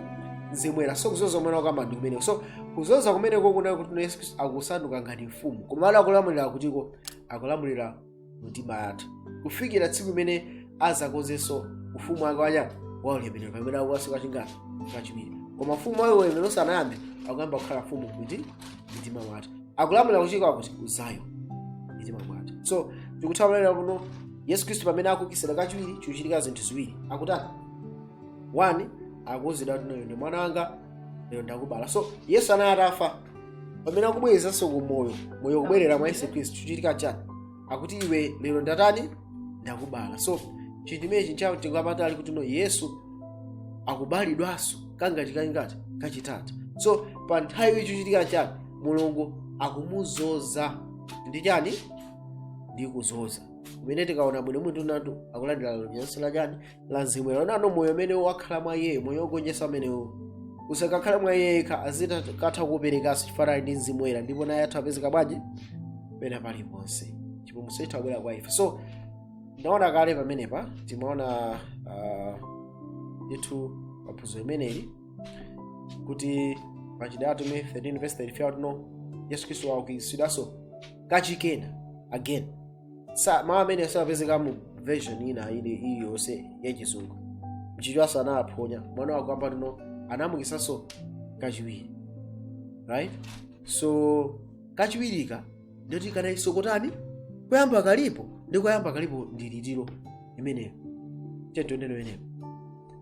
mzimu woyera so kuzoza kumene akukamba ndi kumeneko so kuzoza kumeneko kuona kuti yesu khristu akusanduka ngati mfumu koma akulamulira kutiko akulamulira mmitima yathu kufikira tsiku limene azakonzenso ufumu wake wa chani wa ulemerero pamene akubweranso kachingati kachiwiri koma ufumu wa ulemerero sanayambe akuyamba kukhala mfumu kuti mmitima mwathu akulamulira kuchika kuti uzayo mmitima mwathu so tikutha kuona kuti no yesu khristu pamene akuukitsidwa kachiwiri chikuchitika zinthu ziwiri akutani one akuuzidwa kuti iwe ndi mwana wanga lero ndakubala so yesu anali atafa pamene akubwereranso ku moyo moyo kubwerera mwa yesu khristu chikuchitika chani akuti iwe lero ndatani ndakubala so chinthu imenechi chatipatsa kuti no yesu akubalidwanso kangati kangati kachitatu so pa nthawi iyi chikuchitika chani mulungu akumuzoza ndi chani ndi kuzoza kumene tikaona bwino munthu natu akulandira lonjezano la chani la mzimu woyera onano moyo umene wakhala mwa iyeyo moyo wogonjetsa umenewu usakakhale mwa iye yekha azikatha kuperekanso chifukwa ali ndi mzimu woyera ndipo naye atha apezeka bwanji pena paliponse chipulumutso chitha kubwera kwa ife so ndaona kale pamenepa timaona uh, ndithu paphunziro limeneli kuti machitidwe atumwi 13 verse 33 tino yesu khristu waukitsidwanso kachikena again sa mawu amene sapezeka mu version ina iliyonse yachizungu mchichewanso anawaphonya mwana wako amba tino anamuukitsanso kachiwiri right so kachiwirika ndoti kanaiso kotani koyamba kalipo ndi koyamba kalipo ndi litiro imeneyo tetoneno imeneyo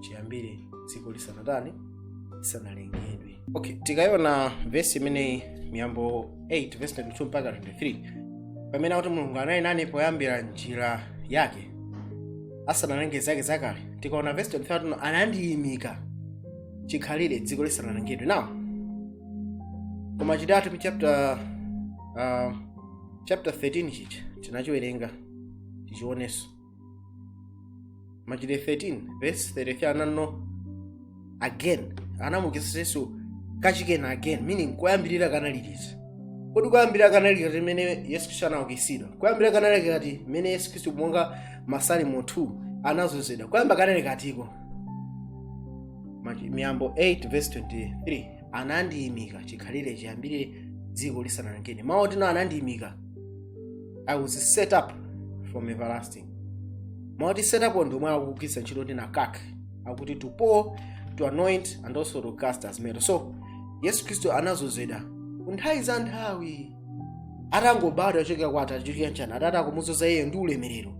chiyambire dziko lisanatani lisanalengedwe okay tikayiona vesi imeneyi miyambo 8 vesi 22 mpaka 23 pamene akuti mulungu anali nane poyambira njira yake asanalenge zake zakale tikaona vesi 23 tino anandiyimika chikhalire dziko lisanalengedwe now ku machitidwe atumwi pa chapter uh, chapter 13 chija tinachiwerenga tichionenso machitidwe 13 verse 33 anati no again anamuukitsa yesu kachikena again meaning koyambirira kanali liti kodi koyambirira kanali liti limene yesu khristu anaukitsidwa koyambirira kanali kati mmene yesu khristu monga masalimo 2 anadzozedwa koyamba kanali katiko Machi- miyambo 8 verse 23 anandiyimika chikhalire chiyambire dziko lisanalengedwe mawu oti no anandiyimika i was set up from everlasting mawu oti set up ndi omwe akugwiritsa ntchito ndi nakak akuti to pour to anoint and also to cast as metal so yesu khristu anadzozedwa kunthawi za nthawi atangobadwa kuchokera kwa atate chokera nchana atate akumudzoza iye ndi ulemerero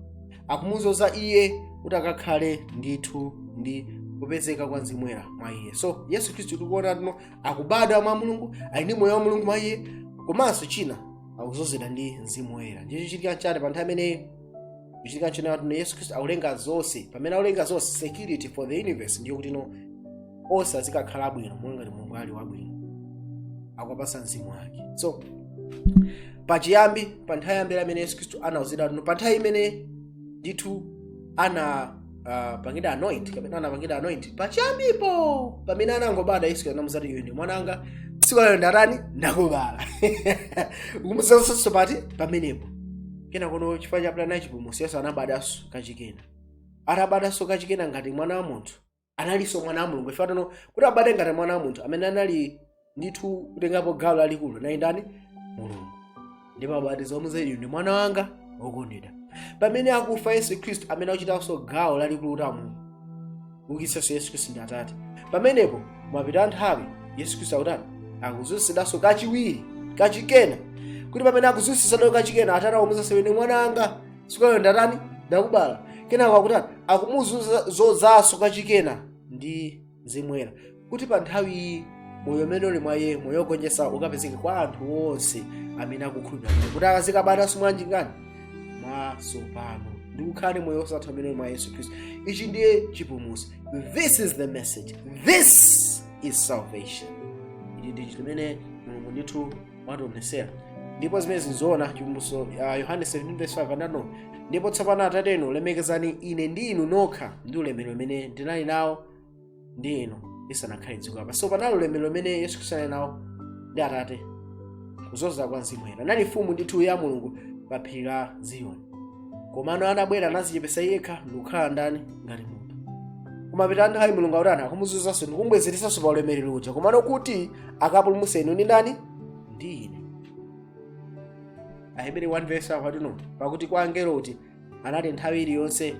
akumudzoza iye kuti akakhale ndithu ndi kupezeka kwa mzimu woyera mwa iye so yesu khristu tikuona tino akubadwa mwa mulungu ali ndi moyo wa mulungu mwa iye komanso china akudzozedwa ndi mzimu woyera ndiye chikuchitika chani pa nthawi imeneyo chikuchitika china kuti no yesu khristu akulenga zonse pamene akulenga zonse security for the universe ndiyo kuti no onse azikakhala abwino monga ngati mulungu ali wabwino akuwapatsa mzimu wake so pachiyambi pa nthawi yoyambirira imene yesu khristu anauzidwa kuti no pa nthawi imene ndithu ana anapangidwa anoint kapena anapangidwa anoint pachiyambipo pamene anangobadwa yesu anamuuza kuti iwe ndi mwana wanga tsiku lalero ndatani ndakubala akumuuzanso pati pamenepo kena kono chifukwa cha plan ya chipulumutso yesu anabadwanso kachikena atabadwanso kachikena ngati mwana wa munthu analinso mwana wa mulungu chifukwa tano kuti abadwe ngati mwana wa munthu amene anali ndithu kutengapo gawo lalikulu naye ndani mulungu ndipo abatiza amuuza iwe ndi mwana wanga wokondedwa pamene akufa yesu khristu amene akuchitanso gawo lalikulu kuti amulungu ukitsanso yesu khristu ndi atate pamenepo mwapita nthawi yesu khristu akutani akuwutsidwanso kachiwiri kachikena kuti pamene akuwutsidwanso kachikena atate akumuuza zimene mwana anga sikayo ndatani ndakubala kenako akutani akumudzozanso kachikena ndi mzimu woyera kuti pa nthawi iyi moyo umene uli mwa iye moyo wogonjetsa ukapezeke kwa anthu onse amene akukhulupirira kuti kuti akazikabadwanso mwanji ngati mwatsopano ndi kukhala ndi moyo wosatha umene uli mwa yesu khristu ichi ndiye chipulumutso this is the message this is salvation ichi ndi chimene mulungu ndithu wationesera ndipo zimenezi nzoona chipulumutso uh, yohane 17:5 anati ndipo tsopano atate inu lemekezani ine ndi inu nokha ndi ulemerero umene ndinali nawo ndi inu lisanakhale dziko lapansi so panali ulemerero umene yesu khristu anali nawo ndi atate kudzera kwa mzimu woyera anali mfumu ndithu ya mulungu pa phiri la ziyoni komano anabwera anazichepesa yekha ndikukhala ndani ngati munthu komano pa nthawi mulungu akutani akumuutsanso ndikumbwezeresanso pa ulemerero uja komano kuti akapulumutse inu ndi ndani ndi ine aheberi 1 verse 5 akuti no pakuti kwa angelo uti anati nthawi iliyonse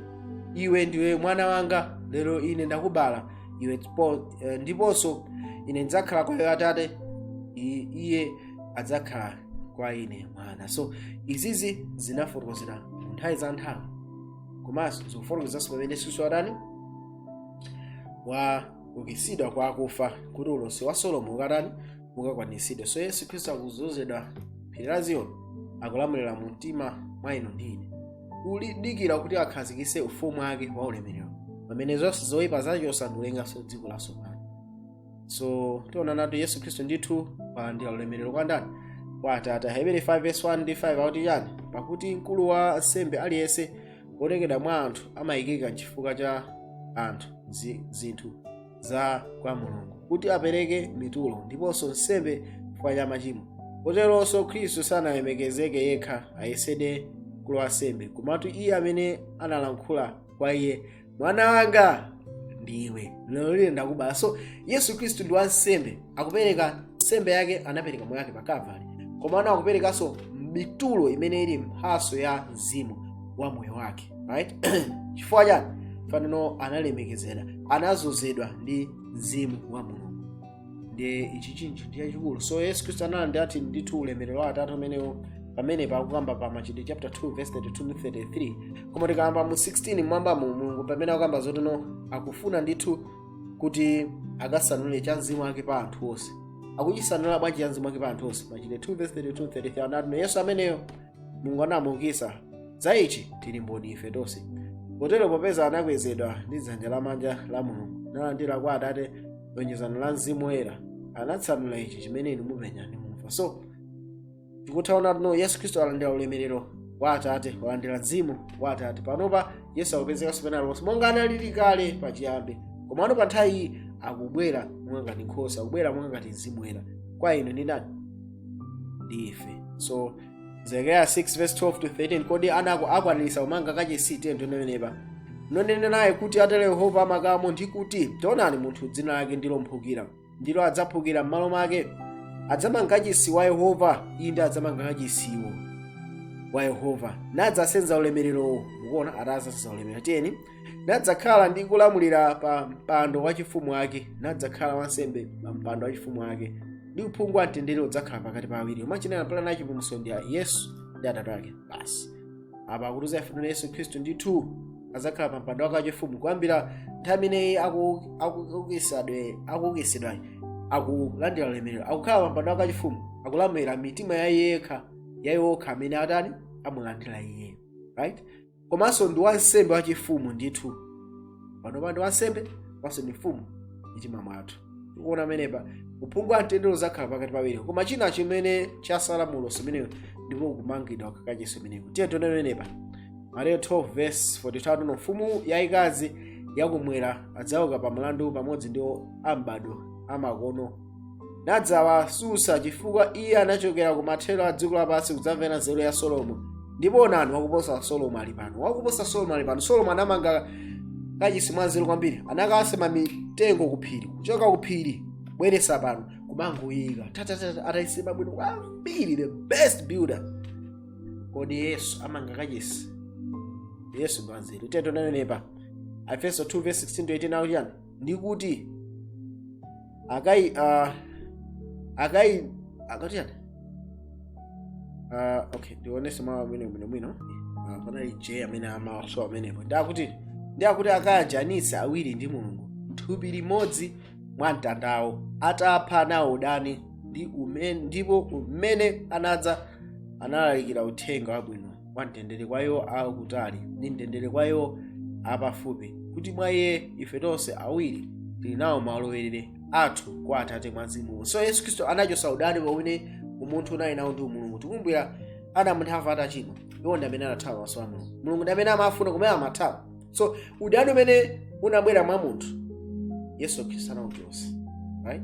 iwe ndiwe mwana wanga lero ine ndakubala iwe ndipo- eh, ndiponso ine ndidzakhala kwa iwe atate i- iye adzakhala kwa ine mwana so izizi zinafotokozera nthawi za nthawi komanso zikufotokozanso pamene yesu watani wa ukitsidwa kwa akufa kuti ulosi wa salimo ukatani ukakwanisidwe so yesu khristu akuzozedwa phiri la ziyoni akulamulira mu mtima mwa inu ndi ine kudikira kuti akhazikise ufumu wake wa ulemerero pamene zonse zoyipa azachosa ndikulenganso dziko lasopano so tiona kuti yesu khristu ndithu walandira ulemerero kwa ndani kwa atate hebere 5 verse 1 ndi 5 akuti chani pakuti mkulu wa ansembe aliyense otengedwa mwa anthu amayikika chifukwa cha anthu zi- zinthu za kwa mulungu kuti apereke mitulo ndiponso nsembe chifukwa cha machimo koteronso khristu sanazilemekeze yekha ayesedwe mkulu wa ansembe komatu iye amene analankhula kwa iye mwana wanga ndiwe lero ine ndakubala so yesu khristu ndi wansembe akupereka nsembe yake anapereka moyo wake pa kalvari komano akuperekanso mitulo imene ili mphaso ya mzimu wa moyo wake right chifukwa chani panopa analemekezedwa anazozedwa ndi mzimu wa mulungu ndi ichi chinthu ndi chachikulu so yesu khristu analandiradi ndithu ulemerero wa atate umenewo pamene pakukamba pa machitidwe chapter 2 verse 32 ndi 33 koma tikayamba mu 16 mwambamu mulungu pamene akukamba zotino akufuna ndithu kuti akasanule cha mzimu wake pa anthu onse akuchisanula bwanji cha mzimu wake pa anthu onse machitidwe 2 verse 32 33 anati yesu ameneyo mulungu anamuukitsa za ichi tili mboni ife tonse kotero popeza anakwezedwa ndi dzanja lamanja la mulungu nalandira kwa atate lonjezano la mzimu woyera anatsanula ichi chimene inu mupenya ndi mumva so tikutha ona kuti now yesu khristu alandira ulemerero wa atate alandira mzimu wa atate panopa yesu akupezekanso pena lonse monga analili kale pachiyambi komano pa nthawi iyi akubwera monga ngati nkhosa akubwera monga ngati mzimu woyera kwa inu ndi ndani ndi ife so zekariya 6 verse 12 to 13 kodi anako akwaniritsa kumanga kachisi tiye tione apa nunene naye kuti atero yehova wa makamu ndi kuti taonani munthu dzina lake ndilo mphukira ndipo adzaphukira m'malo mwake nadzamanga kachisi wa yehova inde adzamanga kachisiwo wa yehova nadzasenza ulemererowo mukuona adzasenza ulemerero tiyeni nadzakhala ndi kulamulira pa mpando wachifumu wake nadzakhala wansembe pa mpando wachifumu wake ndi uphungu wa mtendere udzakhala pakati pa awiri amachinena plan ya chipulumutso ndi yesu ndi atate ake basi apa akutiuza ife no yesu khristu ndithu azakhala pa mpando wake wachifumu kuyambira nthawi imeneyi akuukitsidwayo akulandira ulemerero akukhala pa mpando wake wachifumu akulamulira mitima ya iye yekha ya iwo okha amene atani amulandira iye right komanso ndi wansembe wachifumu ndithu panopa ndi wansembe komanso ndi mfumu m'mitima mwathu tikuona pamenepa uphungu wa mtendere udzakhala pakati pa awiri koma china chimene chasala mu ulosi umenewu ndiko kumangidwa kwa kachisi ameneyu tiye tione pamenepa mateyu 12 verse 42 no mfumu yaikazi yakumwera adzauka pa mlandu pamodzi ndi a mbadwo wamakono nadzawatsutsa chifukwa iye anachokera ku mathero a dziko lapansi kudzamvera nzeru ya solomo ndipo onani wakuposa solomo ali pano wakuposa solomo ali pano solomo anamanga kachisi mwanzeru kwambiri anakasema mitengo kuphiri kuchoka kuphiri kubweretsa pano kumangoika tatatata atayisema bwino kwambiri the best builder kodi yesu amanga kachisi yesu mwanzeru tiyeni tione apa aefeso 2 verse 16 to 18 akuti chani ndikuti akati ah, akati akati chani Ah, okay ndionetse mawu amenewo bwino bwino Ah, panali j amene amasowa pamenepo ndi akuti akayanjanitse awiri ndi mulungu m'thupi limodzi mwa mtandawo atapha nawo udani ndipo m'mene anadza analalikira uthenga wabwino wa mtendere kwa iwo akutali ndi mtendere kwa iwo apafupi kuti mwa iye ife tonse awiri tili nawo malowerere athu kwa atate mwa mzimu so yesu khristu anachotsa udani umene umunthu unali nawo ndi umulungu tikumbukira adamu ndi hava atachimwa iwo ndi amene anathawa maso a mulungu mulungu ndi amene amawafuna kumene amathawa so udani umene unabwera mwa munthu yesu khristu anauchotsa right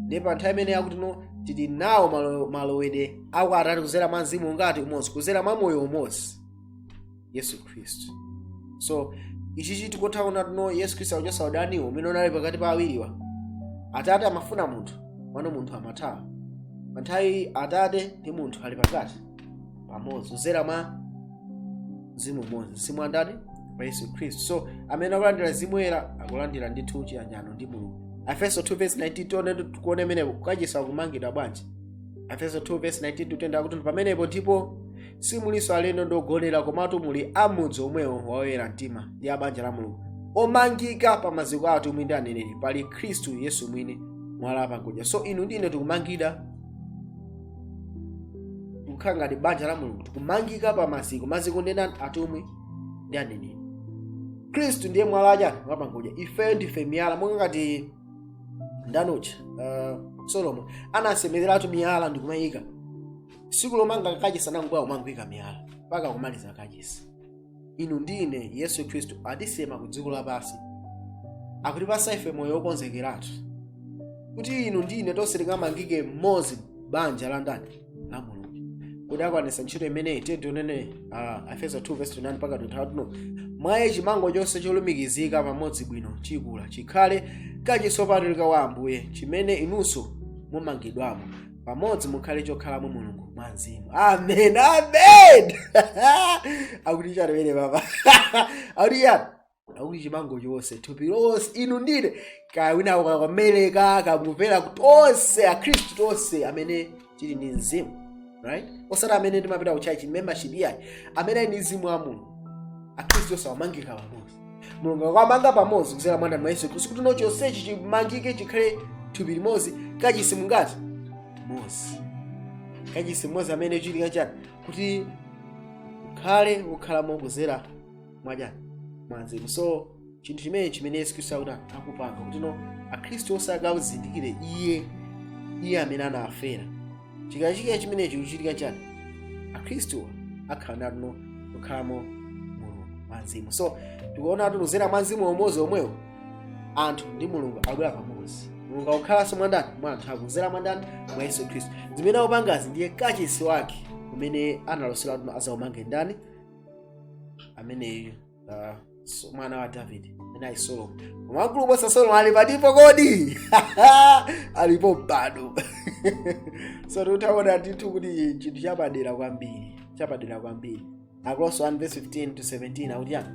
ndiye pa nthawi imene akuti no tili nawo malo- malowedwe a kwa atate kuzera mwa mzimu ungati umodzi kuzera mwa moyo umodzi yesu khristu so ichichi tikutha kuona kuti no yesu khristu akuchotsa udaniwo umene unali pakati pa awiriwa atate amafuna munthu pano munthu amathawa pano nthawi atate ndi munthu ali pakati pamodzi kudzera mwa mzimu umodzi mzimu wa ndani wa yesu khristu so amene akulandira mzimu woyera akulandira ndithu chiyanjano ndi mulungu afeso 2 verse 19 tione tikuone imenepo kukachisa kumangidwa bwanji afeso 2 verse 19 tutena kuti pamenepo ndipo simulinso alendo ndi ogonera komatu muli amudzi omwewo waoyera mtima ndi abanja la mulungu omangika pa maziko a atumwi ndi aneneri pali khristu yesu mwini mwala wapangodya so inu ndine tikumangida kukhala ngati banja la mulungu tikumangika pa maziko maziko ndi ndani atumwi ndi aneneri khristu ndiye mwala wachani wapangodya ifeyo ndife miyala monga ngati ndanucha uh, solomo anasemereratu miyala ndikumayika tsiku lomanga kachisi anangobwera kumangoika miyala mpaka kumaliza kachisi inu ndi ine yesu khristu atisema ku dziko lapansi akutipasa ife moyo wokonzekeratu kuti inu ndi ine tonse tikamangike mmodzi banja la ndani la mulungu kuti akwanisa ntchito imeneyi tiye tione uh, efeso 2 verse 29 mpaka 23 mwa iye chimango chonse cholumikizika pamodzi bwino chikula chikhale kachisi wopatulika wa ambuye chimene inunso mumangidwamo pamodzi mukhale chokhalamo mulungu mwa mzimu amen amen akuti chani mmene apa akuti chani akuti chimango chonse thupi lonse inu ndine kaya wina akukhala ku amereka kaya mupera tonse akhristu tonse amene tili ndi mzimu right osati amene timapita ku church membership iyayi amene ali ndi mzimu wa mulungu akhristu onse amangika pamodzi mulungu akuwamanga pamodzi kudzera mwa ndani mwa yesu khristu kuti no chonsechi chimangike chikhale thupi limodzi kachisi mungati mmodzi kachisi mmodzi amene chichitike nchani kuti akhale okhalamo kudzera mwachani mwa mzimu so chinthu chimene chimene yesu khristu akuti akupanga kuti no akhristu onse akazindikire iye iye amene anafera chikachitika chimene chikuchitika nchani akhristuwa akhala ndithu no okhalamo mulungu mwa mzimu so tikuona kuti kuzera mwa mzimu umodzi omwewo anthu ndi mulungu akubwera pamodzi mulungu akukhalanso mwa ndani mwa anthu akuzera mwa ndani mwa yesu khristu zimene akupangazi ndiye kachisi wake umene analosera kuti azaumange ndani ameneyo ah, so- mwana wa davide naye solomo koma wamkulu kuposa solomo ali patipo kodi alipo mpando so tutaona ndithu kuti chinthu chapadera kwambiri chapadera kwambiri akolose 1 verse 15 to 17 akuti chani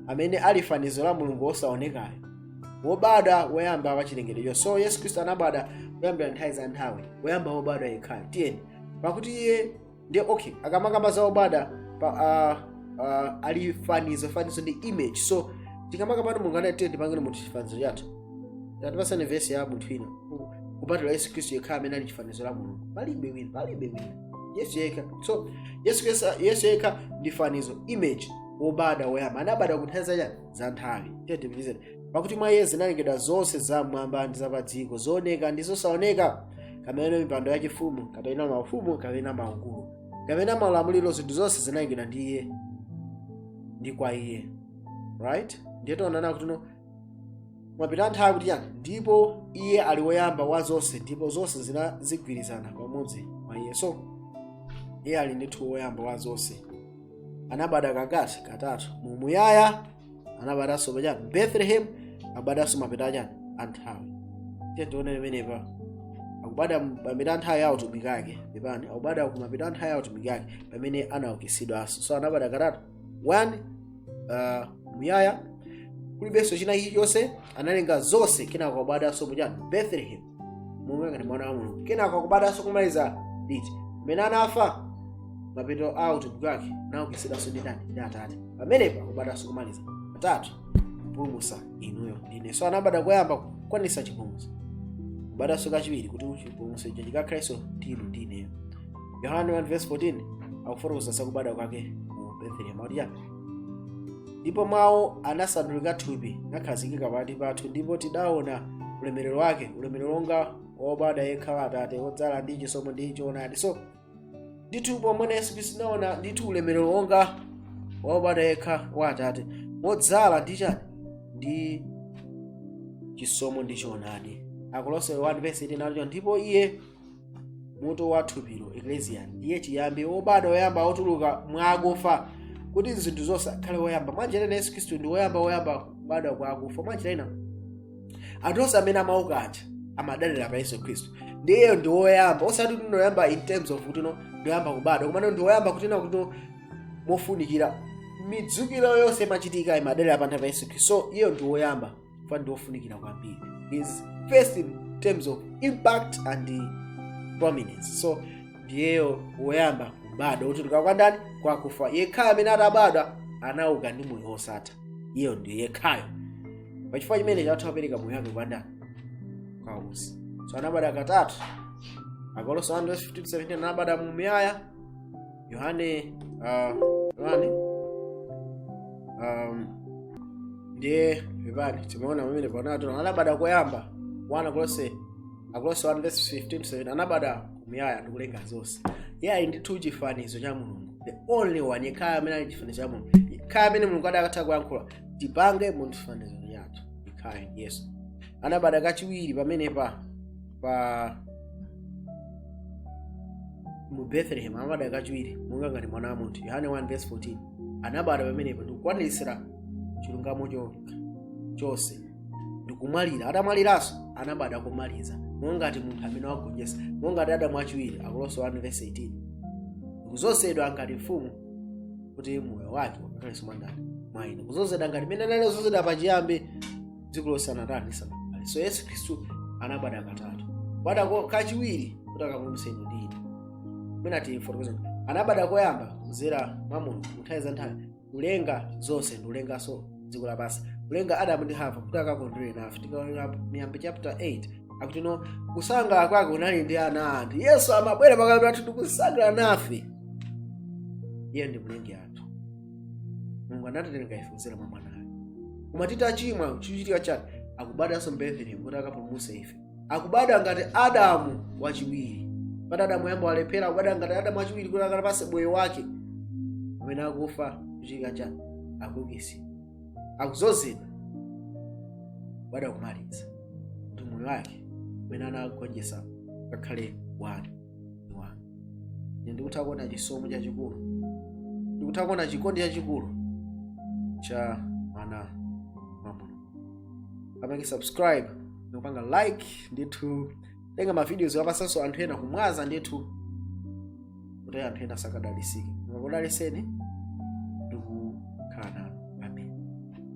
amene ali fanizo la mulungu wosaonekayo wobadwa woyamba wa chilengedwe chonse so yesu khristu anabadwa kuyambira nthawi za nthawi woyamba wobadwa yekhayo tiyeni pakuti iye ndiye okay akamakamba za obadwa pa, uh, uh, ali fanizo fanizo ndi image so tikamakamba pano mulungu anati tipangeni munthu chifanizo chathu tatipasani vesi ya munthu ina Ku- kupatula yesu khristu yekha amene ali chifanizo la mulungu palibe wina palibe wina yesu yekha so yesu Khristu- yesu yekha ndi fanizo image wobadwa woyamba anabadwa kunthawi zachani za nthawi tiyeni pakuti mwa iye zinalengedwa zonse zam'mwamba ndi zapadziko zooneka ndi zosaoneka kapena mipando yachifumu kapena maufumu kapena maukulu kapena maulamuliro zinthu zonse zinalengedwa ndi iye ndi kwa iye right ndiye tionana kuti no mapeto a nthawi kuti chani ndipo iye ali woyamba wa zonse ndipo zonse zinazigwirizana pamodzi mwa iye so iye ali ndithu woyamba wa zonse anabadwa kangati katatu mu muyaya anabadwanso pachani bethlehem abadwanso mapeto achani anthawi tiye tione pamenepa akubadwa mapeto anthawi ya utumiki ake pepani akubadwa ku mapeto anthawi ya utumiki ake pamene anaukitsidwanso so anabadwa katatu one uh, muyaya kulibenso china chilichonse analenga zonse kenako akubadwanso pachani bethlehem monga ngati mwana wa mulungu kenako akubadwanso kumaliza liti mmene anafa mapeto a utumiki wake naukitsidwanso ndi ndani ndi atate pamenepo akubadwanso kumaliza katatu kupulumutsa inuyo ndine so anabadwa koyamba kukwanitsa chipulumutso kubadwanso kachiwiri kuti chipulumutso icho chikakhalenso ndi inu ndi ineyo yohane 1:14 akufotokoza zakubadwa kwake mu bethlehemu akuti chani ndipo mawu anasandulika thupi nakhazikika pakati pathu ndipo tidaona ulemerero wake ulemerero wonga wa wobadwa yekha wa atate wodzala ndi chisomo ndi choonadi so ndithu pomwe yesu khristu tinaona ndithu ulemerero wonga wa wobadwa yekha wa atate wodzala ndi chani ndi chisomo ndi choonadi akolose 1 vesi 18 nacho ndipo iye mutu wa thupilo eklesia ndiye chiyambi obadwa woyamba otuluka mwa akufa kuti zinthu zonse akhale woyamba mwanjira ina yesu khristu ndi woyamba woyamba kubadwa kwa akufa mwanjira ina anthu onse amene amauka aja amadalira pa yesu khristu ndiyeyo ndi woyamba osati kuti ndi woyamba in terms of kuti no ndi woyamba kubadwa komano ndi woyamba kunena kuti no mofunikira midzukiro yonse imachitika imadalira pa munthu pa yesu khristu so iyeyo ndi woyamba chifukwa ndi ofunikira kwambiri is first in terms of impact and uh, prominence so ndiyeyo woyamba kubadwa wotuluka kwa ndani kwakufa yekhayo amene atabadwa anauka ndi moyo wosatha iyeyo ndiye yekhayo pachifukwa chimene watha kupereka moyo wake kwa ndani kwa us so anabadwa katatu akolose 1:15 17 anabadwa mu muyaya yohane ah, yohane um, ndiye pepani timaona pamene pano tona anabada koyamba 1 akolose akolose 1 verse 15 to 17 anabada mumuyaya ndi kulenga zonse iye ali ndithu chifanizo cha mulungu the only one yekhayo amene ali chifanizo cha mulungu yekhayo amene mulungu adakatha kuyankhula tipange munthu chifanizo chathu yekhayo yesu anabada kachiwiri pamenepa pa mu bethlehem anabadwa kachiwiri monga ngati mwana wa munthu yohane 1 verse 14 anabadwa pamenepo ndikukwaniritsira chilungamo cho- chonse ndikumwalira atamwaliranso anabadwa komaliza monga ngati munthu amene wagonjetsa monga ngati adamu wachiwiri akolose 1 verse 18 ndikuzozedwa ngati mfumu kuti moyo wake ukakhalenso mwa ndani mwa ine kuzozedwa ngati mmene anali kuzozedwa pachiyambi dziko lisanatani lisanabadwe so yesu khristu anabadwa katatu kubadwa ko- kachiwiri kuti akapulumutse inu ndi ine mwina tifotokoza kuti anabadwa koyamba kudzera mwa mulungu nthawi za nthawi kulenga zonse ndi kulenganso dziko lapansi kulenga adamu ndi hava kuti akakondwere nafe tikaona miyambo chapter 8 akuti no kusangalala kwake unali ndi ana anthu yesu amabwera pakati pathu ndikusangalala nafe iye ndi mlengi athu mulungu anatilenga ife kudzera mwa mwana ake koma titachimwa chikuchitika chake akubadanso mbethelemu kuti akapulumutse ife akubada ngati adamu wachiwiri pati adamu woyamba walephera akubada ngati adamu wachiwiri kuti akapase moyo wake amene akufa chikuchitika chake akukisi akuzozedwa kubada kumaliza kuti moyo wake umene anagonjesa ngakhale wanu Wa. Ine ndikutha kuona chisomo chachikulu ndikutha kuona chikondi chachikulu cha mwana wa mulungu amake subscribe ndikupanga like ndithu tenga mavideos wa pasanso anthu ena kumwaza ndithu kuti anthu ena sakadalisike akudaliseni ndikukhala nanu